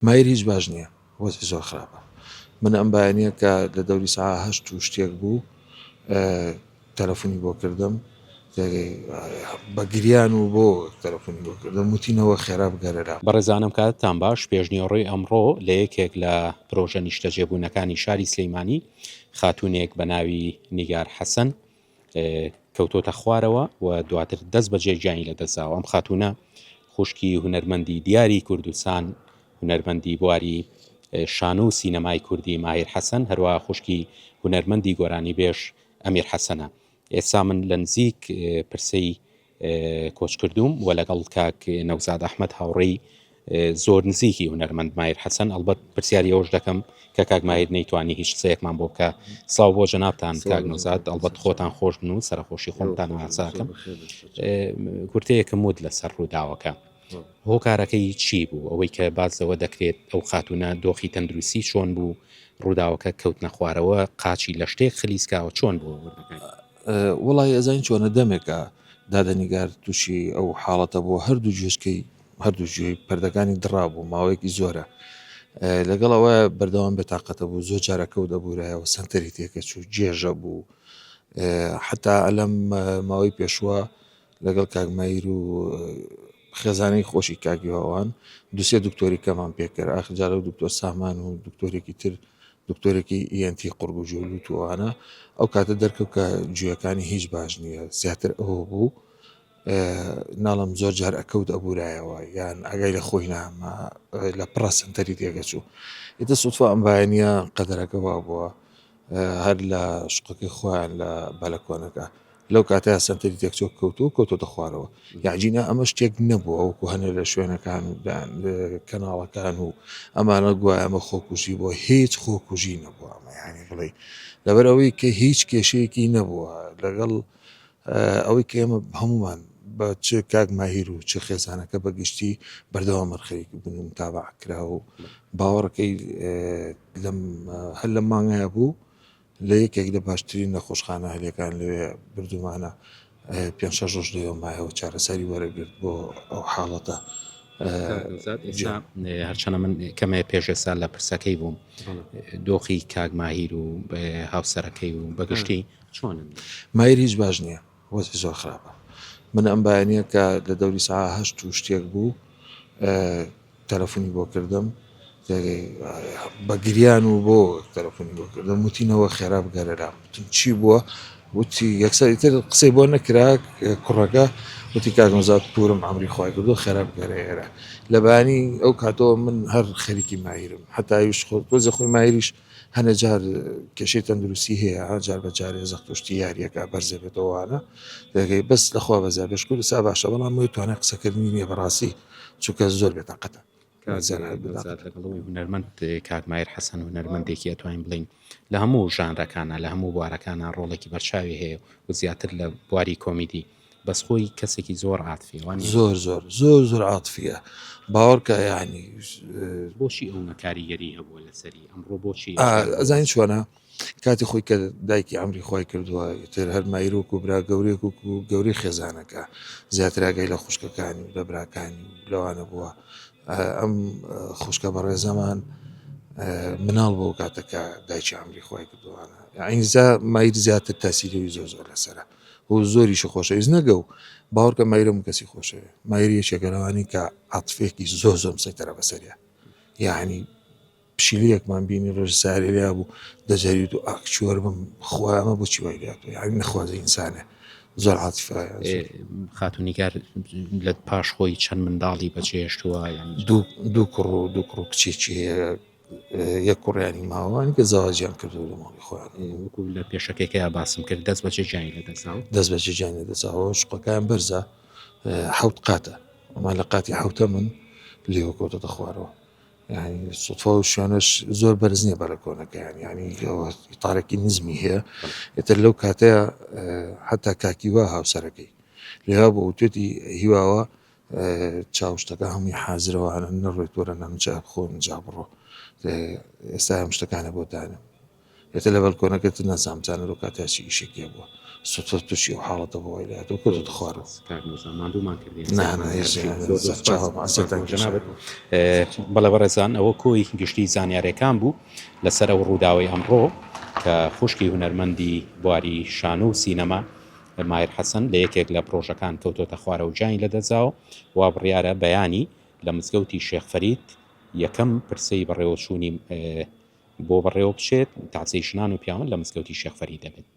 مایر هیچ باش نیە وەزعی زۆر خراپە من ئەم بایەنە کە لە دەوری سەعا هەشت و شتێک بوو تەلەفونی بۆ کردم بە گریان و بۆ تەلەفونی بۆ کردم وتینەوە خێرا بگەرە لام. بەڕێزانم کاتتان باش، پێشنیوەڕۆی ئەمڕۆ لە یەکێک لە پرۆژە نیشتەجێبوونەکانی شاری سلەیمانی خاتوونێک بە ناوی نیگار حەسەن کەوتۆتە خوارەوە و دواتر دەست بەجێ گیانی لەدەستداوە ئەم خاتوونە خوشکی هونەرمەندی دیاری کوردستان هونەرمەندی بواری شانۆ و سینەمای کوردی ماهیر حەسەن هەروە خوشکی هونەرمەندی گۆرانی بێژ ئەمیر حەسەنە ئێستا من لە نزیک پرسەی کۆچکردووم و لەگەڵ کاک نەوزاد ئەحمەد هاوڕێی زۆر نزیکی هونەرمەند مایر حەسەن ئەڵبەت پرسیاری ئەوەش دەکەم کە کاک مایر نەیتوانی هیچ قسەیەکمان بۆ بکە ساو بۆ جەنابان کاک نەوزاد ئەڵبەت خۆتان خۆش بن و سەرخۆشی خۆمتان واساکەم کورتەیەکم وت لەسەر ڕووداوەکە هۆکارەکەی چی بوو ئەوەی کە بازەوە دەکرێت ئەو خاتونە دۆخی تەندروستی چۆن بوو ڕووداوەکە کەوتنە خوارەوە قاچی لە شتێک خلیسکاوە چۆن بوو وەڵای ئەزانی چۆنە دەمێکە دادەنیگار تووشی ئەو حاڵەتە بۆ هەردوو جێشکەی هەردوو جوێی پردەکانی دڕابوو ماوەیەکی زۆرە لەگەڵ ئەوە بەردەوام بێتاقەتە بوو زۆر جارەکەوت دەبوورایەوە سنتەری تێکەچوو جێژە بوو حتا ئەلەم ماوەی پێشوە لەگەڵ کاک مەیر و خێزانی خۆشی کاک یۆوان دوسێ دکتۆری کەمان پێکرد ئاخر جارە و دکتۆر سامان و دکتۆرێکی تر دکتۆرێکی ئیەنتی قڕگ و جوول و توانە ئەو کاتە دەرکەوت کە گوێەکانی هیچ باش نییە زیاتر ئەوە بوو ناڵم زۆر جار ئەکەوت ئەبورایەوە یان ئەگای لە خۆی نامە لە پڕە سنتەری تێگەچوو ئیتە سوتفە ئەمبایەنە قەدەرەکە وا بووە هەر لە شوقەکەی خۆیان لە بالەکۆنەکە لەو کاتەیە سەنتەری تێکچۆک کەوت و کەوتۆتە خوارەوە یاجینە ئەمە شتێک نەبووە وەکو هەنێ لە شوێنەکان کەناڵەکان و ئەمانە گوایە ئەمە خۆکوژی بۆ هیچ خۆکوژی نەبووە ئەمە یانی بڵێ لەبەرەوەی کە هیچ کێشەیەکی نەبووە لەگەڵ ئەوەی کە ئێمە هەموومان بە چ کاک ماهیر و چ خێزانەکە بە گشتی بەردەوامن خەریکی بوون و متابعە کرا و باوەڕەکەی لەم هەر لەم مانگەیە بوو لە یەکێک لە باشترین نەخۆشخانە هەلەکان لەوێ بردومانە پێ شەش ڕۆژ لەوە مایەوە چارەسەری وەرەگرت بۆ ئەو حاڵەتە هەرچەنە من کەمێ پێشێسا لە پرسەکەی بووم دۆخی کاگماهیر و هاوسەرەکەی و بەگشتی چۆنن؟ ماییر هیچ باش نیە وەزعی زۆر خراپە من ئەم بایەنیە کە لە دەوری سەعا هەشت و شتێک بوو تەلەفونی بۆ کردم بە گریان و بۆ تەلەفونی بۆ کردم وتینەوە خێرا بگەرە لام وتم چی بووە وتی یەکسەر ئیتر قسەی بۆ نەکرا کوڕەکە وتی کاگمزات پورم ئەمری خخوای کردو خێرا بگەرە ئێرە لە بانی ئەو کاتەوە من هەر خەریکی مایرم هەتاویش خۆ تۆزە خۆی مایریش هەنێ جار کێشەی تەندروستی هەیە جار بە جارێ زەختوشتی یاریەکە بەرزێبێتەوەوانە دەگەی بەس لەخوا بەزیا بێشکو سا باشە بەڵام موی توانای قسەکردنی نیە بەڕاستی چونکە زۆر بێ تاقەتە هونەرمەند کاکمایر حەسەن و نەرمەندێکی ئەتوانین بڵین لە هەموو ژانرەکانە لە هەموو بوارەکانە ڕۆڵێکی بەرچاوی هەیە و زیاتر لە بواری کۆمیدی بەس خۆی کەسێکی زۆر عاتفیە وانیە؟ زۆر زۆر زۆر زۆر عاتفیە باوەڕکە یعنی بۆچی ئەونە کاریگەری هەبووە لەسەری ئەمڕۆ بۆچی ئەزانین چۆنە کاتی خۆی کە دایکی ئەمری خۆی کردووە تر هەر مایرۆک و برا گەورێک و گەوری خێزانەکە زیاتراگەی لە خوشکەکانی و لە براکانی لەوانە بووە ئەم خوشکە بەڕێزەمان مناڵ بۆ کاتەکە دایکی ئەمری خۆی کردوانە ئەینزا مایت زیاتر تاسیری زۆر زۆر لەسرە و زۆریشی خۆشەویست نەگە و باوەڕکە مایرە هەموو کەسی خۆشەوێ مایر یەکێکە لەوانی کە عاتفێکی زۆر زۆم سەیتەرە بەسەریا یعنی پشیلەکمان بینی ڕژ سارێ لیا بوو دەجاریت و ئاکچۆر بم خۆیانە بۆچی وای لات و یعنی نەخوازە ئینسانە زۆر عاتفایە خاتونیگار لە پاش خۆی چەند منداڵی بەچێشتووە دوو کوڕ و دوو کوڕ و کچێکی هەیە یەک کوڕیانی ماوە ئەوانی کە زەواجیان کردووە لە ماڵی خۆیان ئێ، وەکو لە پێشەکەیکەیا باسم کرد دەست بەچێ جیانی لە دەستاوە دەست بەجێ جیان لە دەساوە شوقەکان بەرزە اه، حەوت قاتە ئەمان لە قاتی حەوتە من لێوە کەوتەتە خوارەوە یعنی سوتفا و شوێنەش زۆر بەرز نییە بەرە کۆنەکەیان یعنی ئەوە تارێکی نزمی هەیە ئێتر لەو کاتەیە اه، حتا کاکیوا هاوسەرەکەی لێوا بۆ وتێتی هیواوە چاو شتەکە هەمووی حازرە وانە نەڕوێت وەرە نام جا خۆم جا بڕۆ ئێستا ئەم شتەکانە بۆ دانم ئێتە لە بەلکۆنەکەت نازام جانە لۆ کاتیا چی ئیشێک لێ بووە سوتۆ تووشی و حاڵەتە بۆ وای لاتۆ کۆ دەخوارڕ بەڵێ بەڕێزان ئەوە کۆی گشتی زانیارەکان بوو لەسەر ئەو ڕووداوی ئەمڕۆ کە خوشکی هونەرمەندی بواری شانۆ و سینەما مایر حەسەن لە یەکێک لە پڕۆژەکان کەوتۆتە خوارەوە گیانی لەدەستدا و وا بڕیارە بەیانی لە مزگەوتی شێخ فەرید یەکەم پرسەی بەڕێوەچوونی بۆ بەڕێوە بچێت، تەعزیەی ژنان و پیاون لە مزگەوتی شێخ فەرید دەبێت.